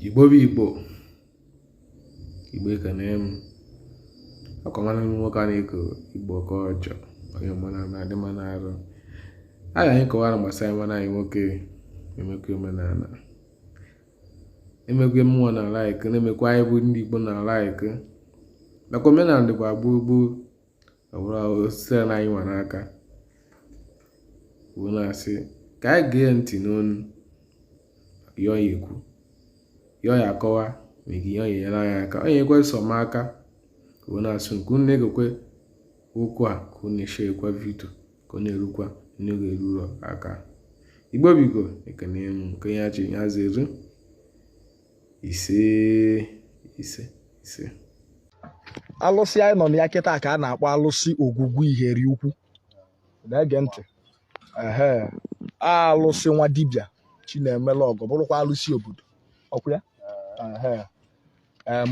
igbo bụ igbo igbo ekene m ọkwa nwanne m nwoke a na-eko igbo ka ọjọ onye omenana na-adị mma n'arụ a ga anyị kọwara gbasara nwanne anyị nwoke na-emekwa omenala na-emekwa ihe mmụọ na-like na-emekwa ihe anyị bụ ndị igbo na-like nakwa omenala dịkwa gboo gboo ọ bụrụ sị na anyị nwa n'aka wee na-asị ka anyị gee ntị n'ọnụ ihe ọ ya-ekwu ihe ọ ya-akọwa maka ihe ọ ya-enyere anyị aka onye ekwe sọ m aka wee na-asị ka unu na-egekwa okwu a ka unu na-eshekwa vidio ka ọ na-erukwa ndị ọ ga-eru aka igbo biko ekene m nke onye chi ya zeru ise ise ise alụsị anyị nọ na ya kịta ka a na-akpọ alụsị ogwugwu iheri ukwu na-ege ntị ehe alụsị nwa dibịa chinemelu ọgọ bụrụkwa alụsị obodo ọkwa ya ehe em,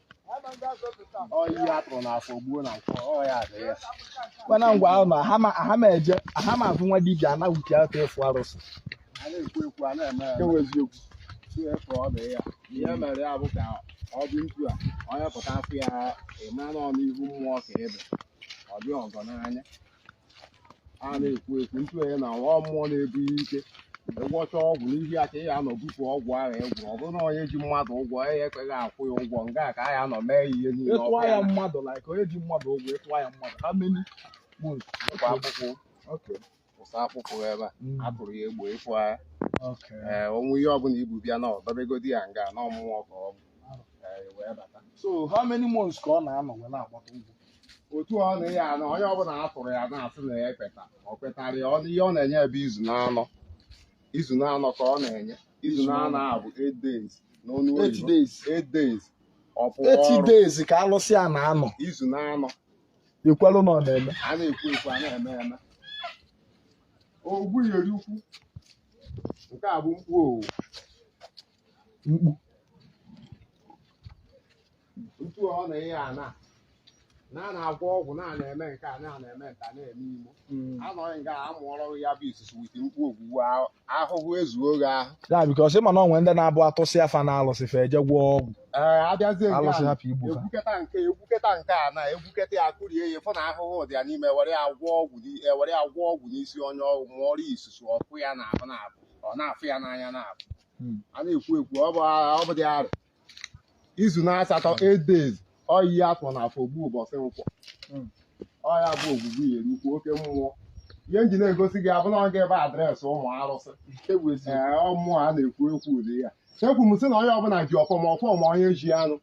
onye a tụrụ n'afọ gbuo na nkwọ ọ ya dị ya mana ngwa ahụ na aha ma- aha ma eje aha ma afụ nwa dibịa anaghị eji aka efu arụsị a na-ekwu ekwu a na-eme eme eziokwu si efe ọ dị ya ihe mere ya bụ ka ọ dị mkpu a onye pụta afụ ya ị ma na ọnụ ihu mmụọ ka ebe ọ dị ọgọ n'anya a na-ekwu ekwu ntu onye na nwa mmụọ na-ebu ya ike ịgwọcha ọgwụ n'ihi ya ka ị ga-anọ bupụ ọgwụ ahụ egwụ ọ bụrụ na onye ji mmadụ ụgwọ ya ekweghị akwụ ya ụgwọ nga a ka a ya-anọ mee ihe niile ịtụọ ọkụ ya ya mmadụ like onye ji mmadụ ụgwọ ịtụọ ya mmadụ how many months nakwa akpụkpụ okay ụsa akpụkpụ ebe a Mm. a tụrụ ya egbo ịfụ ya okay ee o nwee ihe ọbụla i bu bịa na ọ dọbegodi ya nga na ọmụmụ ka ọ bụ ee, wee bata so how many months ka ọ na-anọ wee na-agbata ụgwọ otu ọ na ya na onye ọbụla a tụrụ ya na-asị na ya ekweta ọ kwetara ya ọnụ ihe ọ na-enye bụ izu n'anọ izu n'anọ ka ọ na-enye izu n'anọ a bụ 8 days n'ọnụ Eight oyibo days. 8 days ọ pụọ ọrụ 8 days ka alụsị a na-anọ izu n'anọ e kwelu na ọ na-eme a na-ekwu ekwu a na-eme eme ogwugwu iheri ukwu nke a bụ mkpu owu mkpu otu ọ na ihe a na na a na-agwọ ọgwụ na a na-eme nke a na a na-eme nta na-eme imo anọghị nga a mụọrọ gị ya bụ isusu with mkpu ogwugwu ahụ- ahụhụ ezuo gị ahụ ya because ị ma na o nwe ndị na-abụ a tụsịa fa na alụsị fa eje gwọọ ọgwụ ee a bịazie nke alụsị a hapụ igbu fa egwuketa nke egwuketa nke a na egwuketa ya kụrie ya fụ na ahụhụ dị ya n'ime were ya gwọọ ọgwụ n'i- e, were ya gwọọ ọgwụ n'isi onye ọgwụ mụọrọ ya isusu ọkụ ya na-abụ na-abụ ọ na-afụ ya n'anya na-abụ hmm. a na-ekwu ekwu ọ bụ dị arị izu na asatọ 8 days ọyi afọ na afọ ogbu ụbọchị nkwọ hmm. ọya bụ Ogwugwu iyeri ukwu oke mmụọ ihe m ji na-egosi gị abụ na ọ ga ebe adreesị ụmụ arụsị mmụọ a na-ekwu ekwu ụdị ya chekwu m sị na onye ọbụla ji ọfọ ma ọfọ ma onye ji anụ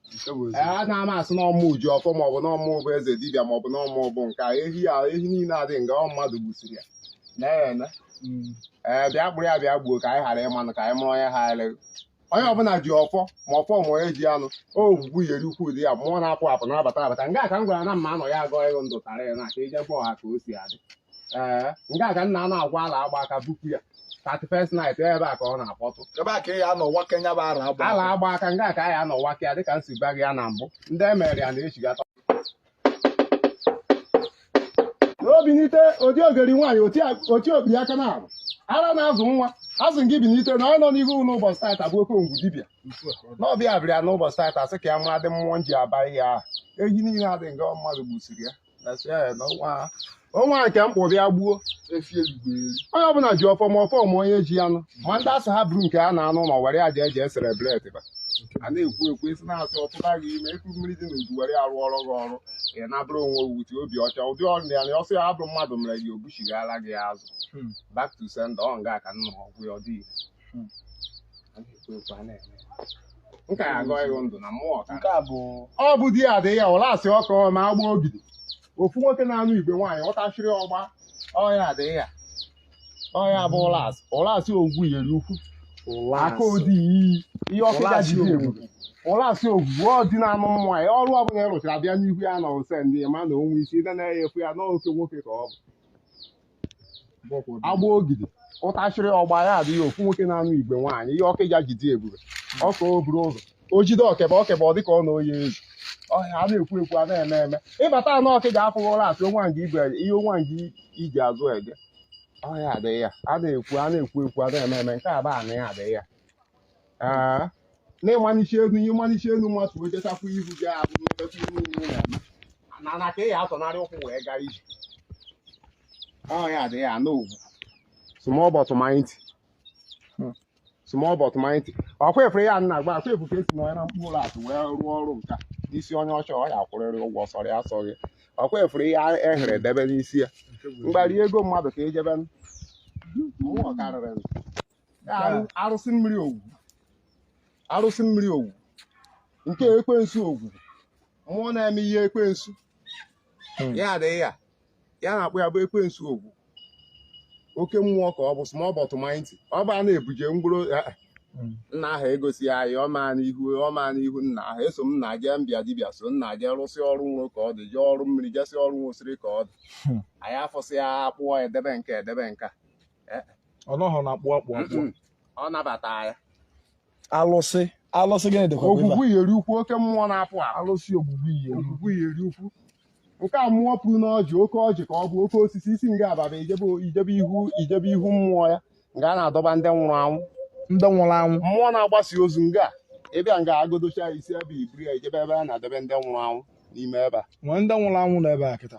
a na-ama asị na ọ mụ ji ọfọ ma ọ bụ na ọ mụ bụ eze dibịa ma ọ bụ na ọ mụ bụ nke ehi ehi niile a dị nga ọ mmadụ gbusiri ya na-eme ee bịa kpụrụ ya bịa gbuo ka anyị ghara ịmanụ ka anyị mụrụ onye ha eleghị onye ọbụla ji ọfọ ma ọfọ ma onye ji anụ Ogwugwu iyeri ukwu ụdị ya mmụọ na-apụ apụ na-abata abata nga ka m gwara na mma anọ ya agọ ịghụ ndụ tara ya na ka ije gwa ọha ka o si adị ee nga ka m na-anọ agwa ala agba aka bupụ ya 31st night ebe a ka ọ na-akpọtụ ebe a ka ị ya anọwa ke nya bụ ara agba ala agba aka nga ka anyị anọwa ka ya dịka m si gwa gị ya na mbụ ndị emere ya na-echigata obinite odi ogeri nwaanyị oti obi aka na arụ ara na-azụ nwa azụ gị binite na ọ nọ n'ihu n'ụbọchị taata bụ oke ngwu dibịa n'ọbịa abịrịa n'ụbọchị taata sị ka ya mara ụdị mmụọ m ji abaghị ya ehi niile a dị nga mmadụ gbusiri ya na si ya na ọnwa ọnwa nke mkpụ bịa gbuo efi ezigbo eri onye ọbụla ji ọfọ ma ọfọ ma onye ji anụ ma ndị asụ ha buru nke a na-anụ na were ya jee jee celebrate ba a na-ekwu ekwu esi na-asị ọtụba gị ime eku mmiri dị n'udu were arụ ọrụ gị ọrụ ị nabụrụ onwe wuti obi ọcha ụdị ọrụ ya na ọsọ ya ọ bụrụ mmadụ mere gị o buchighara gị azụ Hmm. back to sender ọ nga ka m na-agwọ ya ọ dị ire. Hmm. A na-ekwu ekwu a na-eme ya. nka ya agọ ịghụ ndụ na mmụọ ka nke a bụ ọ bụ di ya dị ya Ụlasị ọkụ ma agba ogidi ofu nwoke na-anụ igwe nwaanyị ọtachiri ọgba ọya adịghị ya ọya bụ Ụlasị Ụlasị ogwu iyeri ukwu aka odi iyi ihe ọkịja ji ebube ụlasị ogwugwu ọ dị na-anụ mmụọ ya ọrụ ọbụla ya rụchara bịa n'ihu ya na ose ndị ma na onwe isi ịda na-efu ya n'oke nwoke ka ọ bụ agba ogidi ọtachiri ọgba ya adịghị ofu nwoke na-anụ igwe nwaanyị ihe ọkịja ji dị ebube ọka o buru ụzọ o jide ọkebe ọkebe ọ dịka ọ na oyi ezu ọhịa a na-ekwu ekwu a na-eme eme ị batanụ ọkịja afụghị Ụlasị onwa nga igwe ihe onwa nga iji azụ ege ọhịa adịghị ya a na-ekwu a na-ekwu ekwu a na-eme eme nke a bụ anị ya adịghị ya Ee, n'ịmalichi elu ịmalichi elu mmasị wee jechakwa ihu gị ahụ n'efefe ihe niile na-eme na na ka ị ya atọnarị ụkwụ wee gaa ije ọ ya adịghị anụ ugwu small but mighty Hmm. small but mighty ọkwa efere ya nna agba akwa efu ka esi n'ọnya na mkpụrụ ụlọ akụ wee rụọ ọrụ nka n'isi onye ọcha ọ ya akwụrịrị ụgwọ sọrọ ya asọghị ọkwa efere ya e were debe n'isi ya mgbari ego mmadụ ka eje be mmụọ karịrị arụsị mmiri ogwu arụsị mmiri ogwu nke ekwensu ogwu mmụọ na-eme ihe ekwensu hmm. ya adịghị ya ya na-akpụ ya bụ ekwensu ogwu oke mmụọ ka ọ bụ small but mighty ọ bụ a na-ebuje mgbụrụ eh, eh. hmm. nna ahụ egosi ya anyị ọma n'ihu ọma n'ihu nna ahụ eso m na jee mbịa dibịa so nna jee rụsị ọrụ nro ka ọ dị jee ọrụ mmiri jesị ọrụ nwosiri ka ọ dị hmm. anyị afọsị ya akpụọ edebe nke edebe nka ọ nọghọ na akpụ akpụ akpụ Mm-mm. ọ nabata ya alụsị alụsị gịnị dịkwa ebe a? ogwugwu yeri ukwu oke mmụọ na-apụ apụ alụsị ogwugwu ihe ogwugwu yeri ukwu nke a mmụọ pụrụ n'ọjị oke ọjị ka ọ bụ oke osisi i si nga a baba i jebe i jebe ihu i jebe ihu mmụọ ya nga a na-adọba ndị nwụrụ anwụ ndị nwụrụ anwụ mmụọ na-agbasi ozu nga a, ị bịa nga a agodocha isi ebe i buru ya i jebe ebe a na-adọbe ndị nwụrụ anwụ n'ime ebe a nwee ndị nwụrụ anwụ nọ ebe a kịta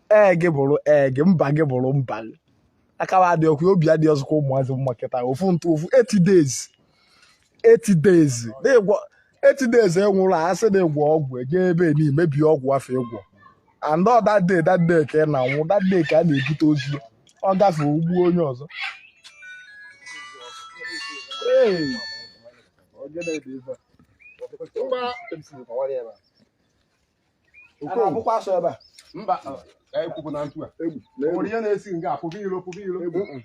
ee gị bụrụ ee gị mba gị bụrụ mba gị akawa adị ọkụ obi adị ọzọkwa ụmụazị mma kịta ofu ntụ ofu 8 days 8 days na-egwọ 8 days ị nwụrụ a sị na ị gwọ ọgwụ eje ebe ni mebie ọgwụ afụ ị gwọ and ọ that day that day ka ị na-anwụ that day ka a na-ebute ozu ọ gafee o gbu onye ọzọ Hey! Ọ gịnị dị ebe a? Mba, Okoye. na-abụkwa asọ ebe a mba ekwupụ na ntu a Egwu. o nwere ihe na-esi nga a pụba ilo pụba ilo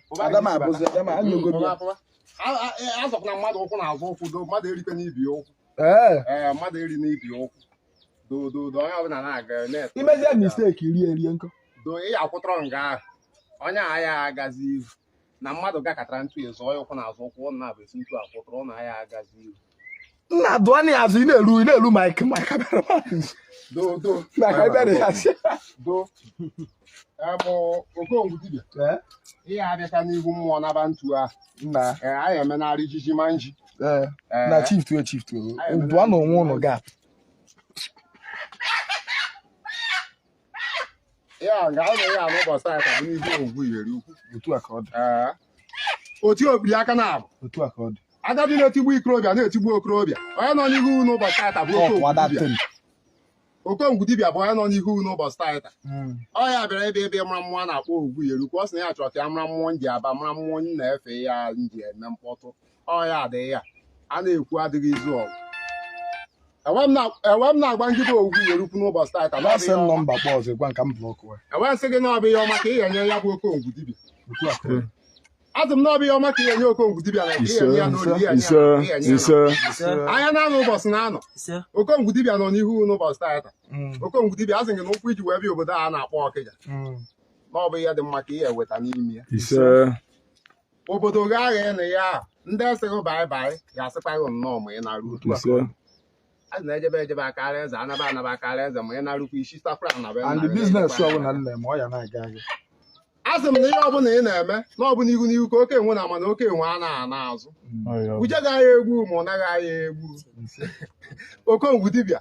pụba Adama ilo, abụzi Adama anyogo m ya. pụba. A- a- e- azọkwala mmadụ ụkwụ n'azụ ụkwụ do mmadụ erikwena ibe ya ụkwụ Ee. ee mmadụ erina ibe ya ụkwụ do do do onye ọbụla na-aga na-ete i mezie mistake rie rie nkọ. do ị akwụtọrọ nga ahụ onye ahụ ya agazi ihu na mmadụ gakatara ntụ ya zọọ ya ụkwụ n'azụ ụkwụ ọ na-abụ esi ntụ akwụtụrụ ọ na ya agazi iru nna dụọ anya ya azụ ị na-eru ị na-eru mike mike abịara mmadụ do do mike abịara ya sị do abụ okongwu dibịa ee ihe abịata n'ihu mmụọ naba ntu a nna ee anyị emenarị ijiji ma nji ee Ee. na chief tuo chief tuo dụọ na onwe ụnụ gap ya nga anyị nọ ụbọchị taata bụ n'ihu ogwu yeri ukwu otu a ka ọ dị Ee. otu obiri aka na abụ otu a ka ọ dị agadi na-etigbu okorobịa na-etigbu okorobịa onye nọ n'ihu unu ụbọchị taata bụ Ọ kwụwa that okongwu thing. okongwu dibịa bụ onye nọ n'ihu unu ụbọchị taata Mm. ọ ya bịara ebe ebe mara mmụọ na-akpọ ogwu yeri ukwu ọ sị na ya chọrọ ka ya mara mmụọ nji aba mara mmụọ nyi na-efe ya nji eme mkpọtụ ọ ya adịghị ya a na-ekwu adịghị izu ọgụ enwe m na-agba ngịba ogwu yeri ukwu n'ụbọchị taata na-asị m nọmba kpọ ọzọ gwa nka m blọkụ ya enwe m sị gị na ọ bụ ihe ọma ka ị ga-enye ya bụ okongwu dibịa asị m na ọ bụ ihe ọma ka ị ga-enye okongwu dibịa na ya n'olili ya anya na-anọ ụbọchị na-anọ okongwu dibịa nọ n'ihu n'ụbọchị taata mm. okongwu dibịa asị gị na ụkwụ i ji wee bịa obodo a na-akpọ ọkịja mm. na ọ bụ ihe dị mma ka ị ga-eweta n'ime ya obodo gị agha ịnụ ya ahụ ndị sị gị baịbaị ga-asịkwa gị nnọọ ma ị na-arụ otu a a na-ejebe ejebe akara eze anaba anaba akara eze ma ị na-arụkwa isi safra na be and the business ọbụla nna m ọ ya na-aga aga asị m na ihe ọbụla ị na-eme na ọ bụ n'ihu n'ihu ka oke enwe na-ama na oke enwe anaha ana azụ uje gaghị egbu ma ụna gị agha egbu okongwu dibịa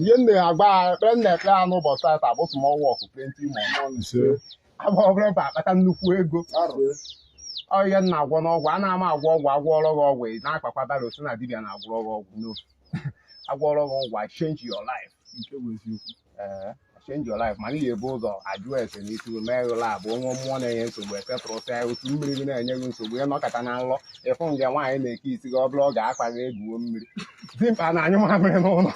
ihe m na-agba ekpere m na-ekpere ya n'ụbọchị tata bụ small work plenty money agba obere mbọ akpata nnukwu ego ọ ihe m na-agwọ n'ọgwụ ana m agwọ ọgwụ agwọọrọ gị ọgwụ ị na-akpakwa dara osi na dibịa na-agwọrọ gị ọgwụ no agwọọrọ gị ọgwụ ị change your life Ee. change your life mana ị ga-ebu ụzọ ajụ ese na isi mee ụlọ abụ o nwe mmụọ na-enye nsogbu e settle sịa otu mmiri gị na-enye gị nsogbu ị nọkata na nlọ ị fụ nge nwaanyị na-eke isi gị ọ bụla ọ ga-akpa gị egwuo mmiri dimkpa na-anyụ mamịrị n'ụlọ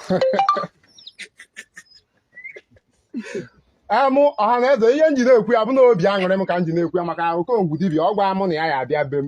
emụ ọha na eze ihe m ji na-ekwu ya bụ na obi aṅụrị m ka m ji na-ekwu ya maka okongwu dibịa ọ gwa mụ na ya ya-abịa be m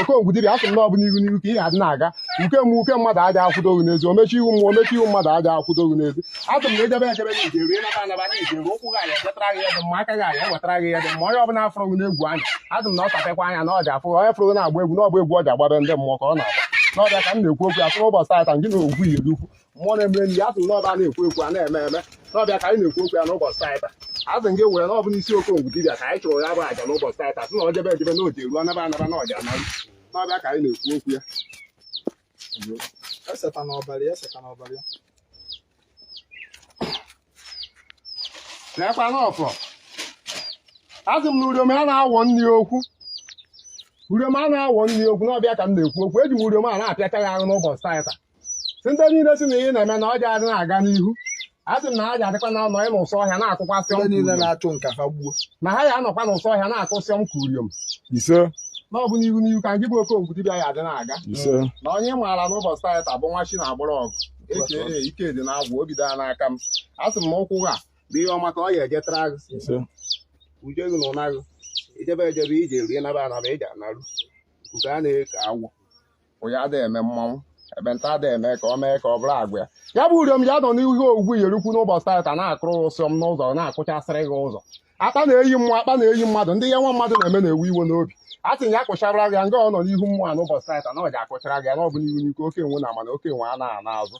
okongwu dibịa asị m na ọ bụ n'ihu n'ihu ka ị ya adị na-aga uke mmụọ uke mmadụ aja akwụdo gị n'ezi omechi ihu mmụọ omechi ihu mmadụ aja akwụdo gị n'ezi asị m na ejebe ejebe na ị je-eruo naba anaba na ị je-eruo ụkwụ gị a ya-ejetara gị ihe dị mma aka gị a ya-ewetara gị ihe dị mma onye ọbụla fụrụ gị n'egwu anya asị m na ọ tapekwa anya na ọ ja-afụ onye fụrụ gị na-agba egwu na ọgba egwu ọ ja-agbabe ndị mmụọ ka ọ na-agba na ọ bụ ya ka m na-ekwu okwu asị n'ụbọchị taata ngị na ogwu iyeri ukwu mmụọ na-emere nri ya sị na ọ bụ a na-ekwu ekwu a na-eme eme na ọ bụ ya ka anyị na-ekwu okwu ya n'ụbọchị taata asị gị were na ọ bụ n'isi okongwu dibịa ka anyị chụrụ ya bụ aja n'ụbọchị taata sị na ọ jebe ejebe na ọ ja-eruo anaba anaba na ọ ja-anaru na ọ bụ ya ka anyị na-ekwu okwu ya eseta n'ọbara ya eseta n'ọbara ya na-ekwa n'ọfọ asị m na uriom a na-awọ nri okwu uriom a na-awọ nri okwu na ọ bụ ya ka m na-ekwu okwu eji m uriom a na-apịacha ya ahụ n'ụbọchị taata sị ndị niile sị na ihe ị na-eme na ọ ja adị na-aga n'ihu a sị m na ha ja adịkwa na-anọ n'ụsọ ọhịa na-akụkwasị Ndị niile ọm na-achụ ngị ka fa gbuo na ha ya anọkwa n'ụsọ ọhịa na-akụsị ọm ka uriom ise na ọ bụ n'ihu n'ihu ka ngị bụ okongwu dibịa ya adị na-aga ise na onye ị maara n'ụbọchị taa taa bụ nwa chi na-agbara ọgụ eke ike dị na-agwụ obi daa n'aka m a sị m na ụkwụ gị a bụ ihe ọma ka ọ ya ejetara gị ise uje gị na ụna gị ị jebe ejebe ị je-erue naba anaba ị je-analu nke a na-eke agwọ ụya ada eme mmanwụ ekpenta ada eme ka ọ mee ka ọ bụrụ agwa ya bụ uriom ya nọ n'ihu ogwugwu yerukwu n'ụbọchị tata na-akụrụ ụsịọm n'ụzọ na-akụchasịrị gị ụzọ akpa na-eyi mmụọ akpa na-eyi mmadụ ndị ihe nwa mmadụ na-eme na-ewu iwe n'obi a sị ya akụchara gị nga ọ nọ n'ihu mmụọ a n'ụbọchị tata na ọ ja-akụchara gị ya na ọ bụ n'ihu n'ihu ka oke enwe na-ama na oke enwe anaha ana azụ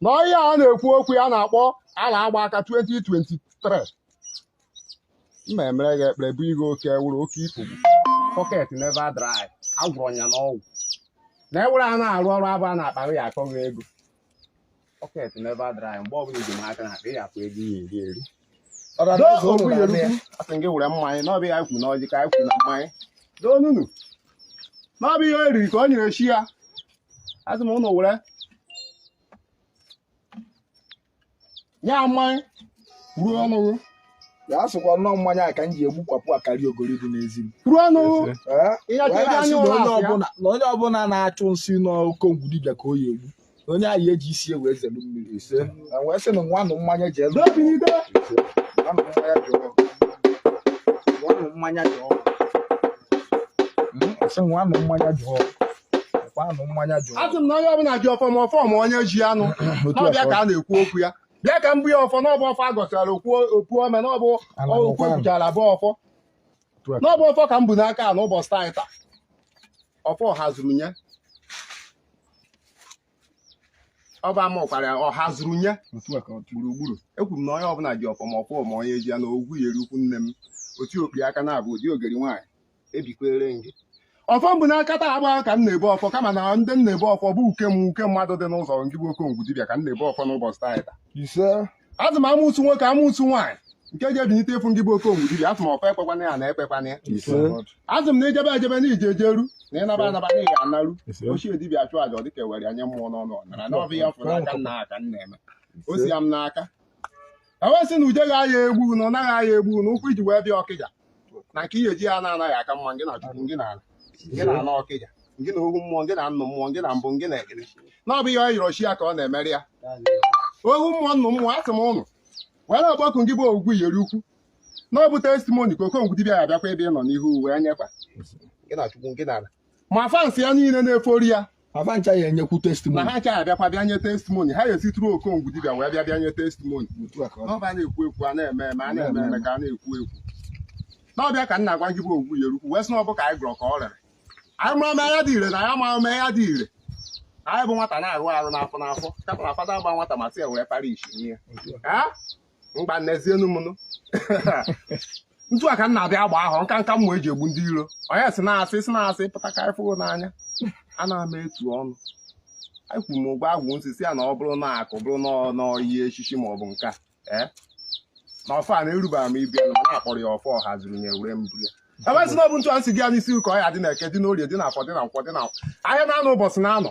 na ọhịa a na-ekwu okwu ya na-akpọ ala agba aka 2023 mma emere gị ekpere bụ ihe oke ewuru oke ifugbu pocket never dry agwọrọ ya n'ọgwụ na ewere ya na-arụ ọrụ abụ a na-akpara ya akọghị ego pocket never dry mgbe ọbụla iji m aka na akpa ya akpa ego ya eri eri asị gị were mmanya n'ọbụ ihe ya kwuru n'ọjị ka ya kwuru na mmanya doonunu n'ọbụ ihe o riri ka o nyere chi ya asị m ụnụ were ya mmanya ruo ọnụ gị ya asụkwa nnọọ mmanya a ka m ji egbukwapụ akarị ogori dị n'ezi m ruo ọnụ gị Ee, Ihe wee ọchịchị na-asị anya na ụlọ onye asị ya. ọbụla na onye ọbụla na-achụ nsị n'okongwu dibịa ka o ya egbu na onye ahụ eji isi ewe ezelu mmiri ise na wee sị na nwanụ mmanya ji elu n'obi n'ido nwanụ mmanya ji ọgwụ nwanụ mmanya ji ọgwụ Mm, sị nwanụ mmanya ji ọgwụ kwanụ mmanya jụrụ asị m na onye ọbụla ji ọfọ ma ọfọ ma onye ji ya nụ Otu n'ọbịa afọ. ka a na-ekwu okwu ya bịa ka mbụ ya ọfọ n'ọbụ ọfọ a gọchara okwu okwu ome n'ọbụ Ala okwu bụkwa nụ. ekwuchara bụ ọfọ Otu afọ. n'ọbụ ọfọ ka m bu n'aka a n'ụbọchị taa taa ọfọ ọha zuru nye ọ bụ ama ọkwara ya, ọha zuru nye Otu a ka ọ dị. gburugburu ekwuru m na onye ọbụla ji ọfọ ma ọfọ ma onye ji ya na ogwu yeri ukwu nne m otu okpi aka na-abụ ụdị ogeri nwaanyị ebikwere m gị ọfọ m bu n'aka taa agba ka m na-ebu ọfọ kama na ndị m na-ebu ọfọ bụ uke m uke mmadụ dị n'ụzọ ngị bụ okongwu dibịa ka m na-ebu ọfọ n'ụbọchị taa taa ise asị m amụsụ nwoke amụsụ nwaanyị nke ga-ebinite ịfụ ngị bụ okongwu dibịa asị m ọfọ ekpekwana ya na ekpekwana ya ise asị m na i jebe ejebe na i je ejeru na ị naba anaba na ị ga-anaru ise ochie dibịa chụọ aja ọ dịka ewere ya nye mmụọ n'ọnụ ọ nara na ọbụ ihe a fụ n'aka nna ha ka m na-eme o si ya m n'aka ewesị na ude ga-aya egbu na ọ naghị aya egbu na ụkwụ i ji wee bịa ọkịja na nke ị ya-eji ana ana ya-aka mma ngị na chukwu ngị na ala ngị na ala ọkịja ngị na ohu mmụọ ngị na nnụ mmụọ ngị na mbụ ngị na egede na ọ bụ ihe ọ yọrọ chi ya ka ọ na-emere ya ohu mmụọ nnụ mmụọ asị m ụnụ were ọgbakụ ngị bụ ogwugwu iyeri ukwu na ọ bụ testimony ka okongwu dibịa ya bịakwa ebe ị nọ n'ihu wee nyekwa ngị na chukwu ngị na ala ma fans ya niile na-efollow ya fa ncha ya enyekwu testimony na ha ncha abịakwa bịa nye testimony ha ya esitụrụ okongwu dibịa wee bịa bịa nye testimony ọbụ a na-ekwu ekwu a na-eme eme a na-eme eme ka a na-ekwu ekwu n'ọbụ ya ka m na-agwa gị bụ ogwu yeri ukwu wee sị na ọ bụ ka anyị gọrọ ka ọ rere anyị mụrụ ọma ya dị ire na ya mara ọma ya dị ire anyị bụ nwata na-arụ arụ n'afọ n'afọ kapụrụ afada gba nwata ma sị ya wee para isi ihe mgba n'ezienu m nụ ntu a ka m na-abịa agba ahụ nka nka mmụọ eji egbu ndị iro onye si na-asị si na-asị pụta ka anyị fụgo n'anya a na-ama etu ọnụ anyị kwuru m ụgwọ agwụ nsị si ya na ọ bụrụ na akụ bụrụ na ọ- na ọyi echichi ma ọ bụ nka ee na ọfọ a na-erubara m ibi na a kpọrọ ya ọfọ ọha zuru nye were mbụ ya ebe si na ọ bụ ntu a nsị gị ya n'isi ụka ọ ya-adị na eke dị n'orie dị na afọ dị na nkwọ dị na ahịa na anọ ụbọchị na anọ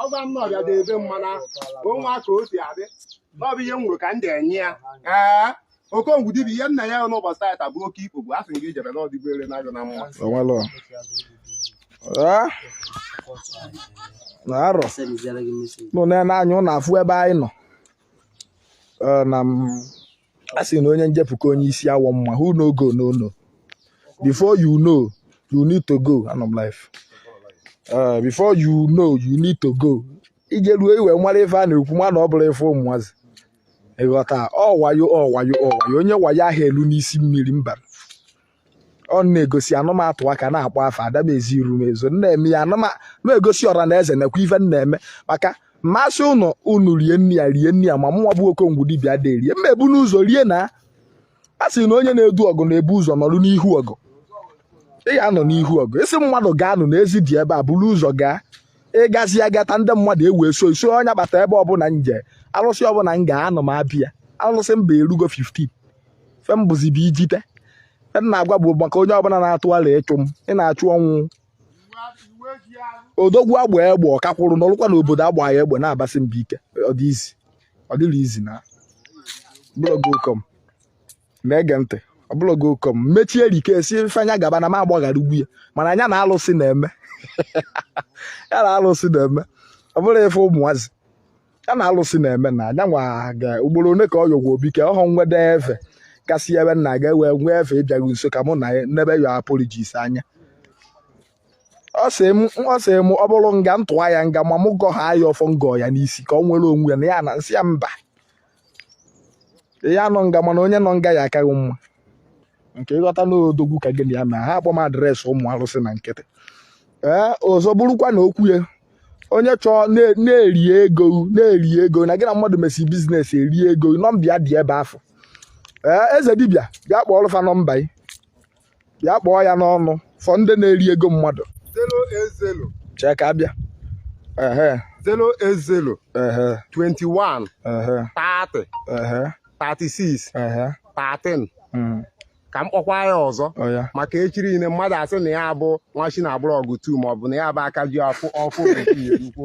ọ gwa m n'ọbịa dị ebe mmana o nwe ka o si adị na ọ bụ ihe m nwere ka m ga-enye ya ee okongwu dibịa ihe nna ya n'ụbọchị taata bụ oke ikpo bụ a sị gị jebe n'ọdịgo ere na-agụ na mma o nwelọ Ah? na arọ nụ na-ene anya unu afụ ebe anyị nọ Eh, na m a sị na onye njepụ ka onye isi awọ mma who no go no know before you know you need to go anọ m live Uh, before you know you need to go ije ruo i wee mara ife a na-ekwu mana ọ bụrọ ife ụmụazị ị ghọta ọ wayo ọ wayo ọ wayo onye wayo aha elu n'isi mmiri mba ọ na-egosi anụ m atụ aka n'akpa afọ ada m ezi iru m ezo nna eme ya anụma na-egosi ọra na eze nakwa ife m na-eme maka mmasị ụnụ unu rie nne ya rie nne ya ma mụnwa bụ okongwu dibịa dị erie mma ebu n'ụzọ rie na a sị na onye na-edu ọgụ na-ebu ụzọ nọrụ n'ihu ọgụ ị ga-anọ n'ihu ọgụ ị sị mmadụ gaanụ na ezi dị ebe a buru ụzọ gaa ị gazie agata ndị mmadụ ewee so iso onye bata ebe ọbụla m je alụsị ọbụla m ga-anọ m abịa alụsị mba erugo 15 fe m bụzi bụ ijite fe m na-agwa bụ maka onye ọbụla na-atụ ala ịchụ m ị na-achụ ọnwụ odogwu agba egbe ọ ka kwụrụ n'ọlụkwa na obodo agba ya egbe na-abasị mba ike ọ dị easy ọ dịrọ easy na ọbụlọgo ụkọm na-ege ntị ọbụlọgo ụkọm mechie rike si ife anya gaba na m agbaghara igbu ya mana nya na alụsị na-eme ya na alụsị na-eme ọ bụrọ ife ụmụazị ya na alụsị na-eme na nyanwa ga ugboro one ka ọ yọgwa obi ka ọhụ nwede ife kasị ebe nna ga ewe nwee ife ị bịaghị nso ka mụ na n'ebe yọ apologize anya ọ sị m ọ sị m ọ bụrụ nga ntụwa ya nga ma mụ gọ ha ya ọfọ m gọ ya n'isi ka o nwere onwe ya na ya na nsị ya mba ya nọ nga mana onye nọ nga ya akaghị mma nke ị ghọta na odogwu ka gị na ya mee ha akpọ m address ụmụ arụsị na nkịtị ee ọzọ bụrụkwa na okwu ya onye chọọ na-eri ego na-eri ego na gị na mmadụ mesi business eri ego nọmba ya dị ebe afụ ee eze dibịa bịa kpọọ ọlụfa nọmba ya bịa kpọọ ya n'ọnụ for ndị na-eri ego mmadụ chee ka m bịa zero eight zero twenty one thirty 36 ehe 13 mm, ka m kpọkwa ya ọzọ ọ ya maka echi niile mmadụ asị na ya bụ nwa chi na-agbụrụ ọgụ tu ma ọ bụ na ya bụ aka ji ọfọ ọfụ bekee erukwu